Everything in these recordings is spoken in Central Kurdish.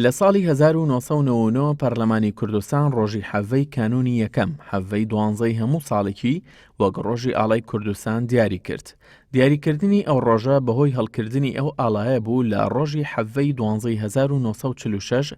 لە ساڵی هەزار و نۆ سەد و نەوە و نۆ پەرلەمانی کوردستان ڕۆژی حەڤەی کانوونی یەکەم، حەڤەی دوانزەی هەموو ساڵێکی، وەک ڕۆژی ئاڵای کوردستان دیاری کرد. دیاریکردنی ئەو ڕۆژە بەهۆی هەڵکردنی ئەو ئاڵایە بوو لە ڕۆژی حەڤەی دوانزەی هەزار و نۆ سەد و چل و شەش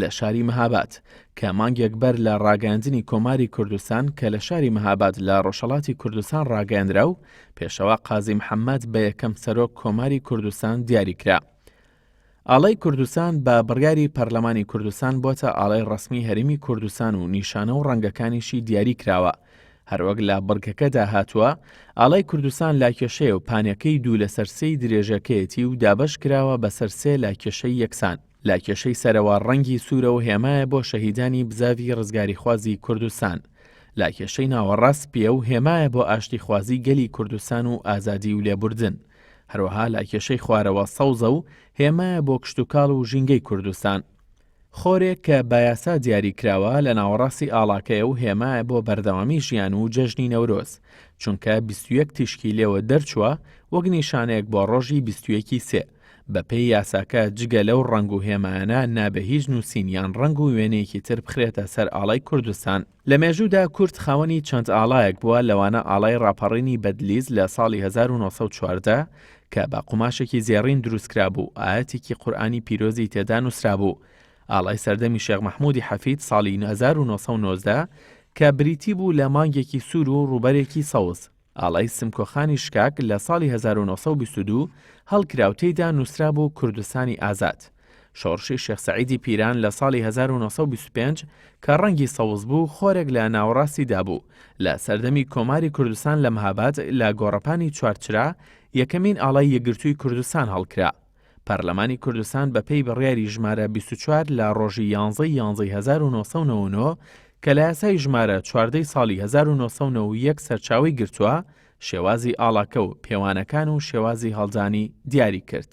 لە شاری مەهاباد، کە مانگێک بەر لە ڕاگەیاندنی کۆماری کوردستان کە لە شاری مەهاباد لە ڕۆژهەڵاتی کوردستان ڕاگەیەنرا و پێشەوا قازی محەممەد بە یەکەم سەرۆک کۆماری کوردستان دیاری کرا. ئاڵای کوردستان بە بڕیاری پەرلەمانی کوردستان بۆتە ئاڵای ڕسمی هەرمی کوردستان و نیشانە و ڕەنگەکانیشی دیاری کراوە. هەروەک لە بڕگەکەدا هاتووە ئاڵای کوردستان لاکێشەیە و پانەکەی دوو لەسەر سێی درێژەکەیەتی و دابەش کراوە بەسەر سێ لاکێشەی یەکسان لە کێشەی سەرەوە ڕەنگی سوورە و هێمایە بۆ شەهیدانی بزاڤی ڕزگاریخوازی کوردستان، لە کێشەی ناوەڕاست سپییە و هێمایە بۆ ئاشتیخوازی گەلی کوردستان و ئازادی و لێبوردن، هەروەها لە کێشەی خوارەوە سەوزە و هێمایە بۆ کشتوکاڵ و ژینگەی کوردستان. خۆرێک کە بە یاسا دیاری کراوە لە ناوەڕاستی ئاڵاکەیە و هێمایە بۆ بەردەوامی ژیان و جەژنی نەورۆز، چونکە بیست و یەک تیشکی لێوە دەرچووە وەک نیشانەیەک بۆ ڕۆژی بیست و یەکی سێ، بەپێی یاساکە جگە لەو ڕەنگ و هێمایانە نابێ هیچ نووسین یان ڕەنگ و وێنەیەکی تر بخرێتە سەر ئاڵای کوردستان لە مێژوودا کورد خاوەنی چەند ئاڵایەک بووە لەوانە ئاڵای ڕاپەڕینی بەدلیز لە ساڵی 1940 کە بە قوماشێکی زێڕین دروستکرابوو ئاەتێکی قورآانی پیرۆزی تێدا نووسرابوو ئاڵای سەردەمی شێخ مححمودی حەفید ساڵی 1990 کە بریتی بوو لە مانگێکی سوور و ڕوبەرێکی سەوز ئاڵای سمکۆ خانی شکاک لە ساڵی هەزار و نۆ سەد و بیست و دوو هەڵکرا و تێیدا نووسرابوو کوردستانی ئازاد. شۆڕشی شێخ سەعیدی پیران لە ساڵی هەزار و نۆ سەد و بیست و پێنج کە ڕەنگی سەوز بوو خۆرێک لە ناوەڕاستی دابوو، لە سەردەمی کۆماری کوردستان لە مهاباد لە گۆڕەپانی چوارچرا یەکەمین ئاڵای یەکگرتووی کوردستان هەڵکرا. پەرلەمانی کوردستان بە پێی بڕیاری ژمارە بیست و چوار لە ڕۆژی یانزەی یانزەی هەزار و نۆ سەد و نەوە و نۆ کە لە یاسای ژمارە چواردەی ساڵی هەزار و نۆ سەد و نەوە و یەک سەرچاوەی گرتووە، شێوازی ئاڵاکە و پێوانەکان و شێوازی هەڵدانی دیاری کرد.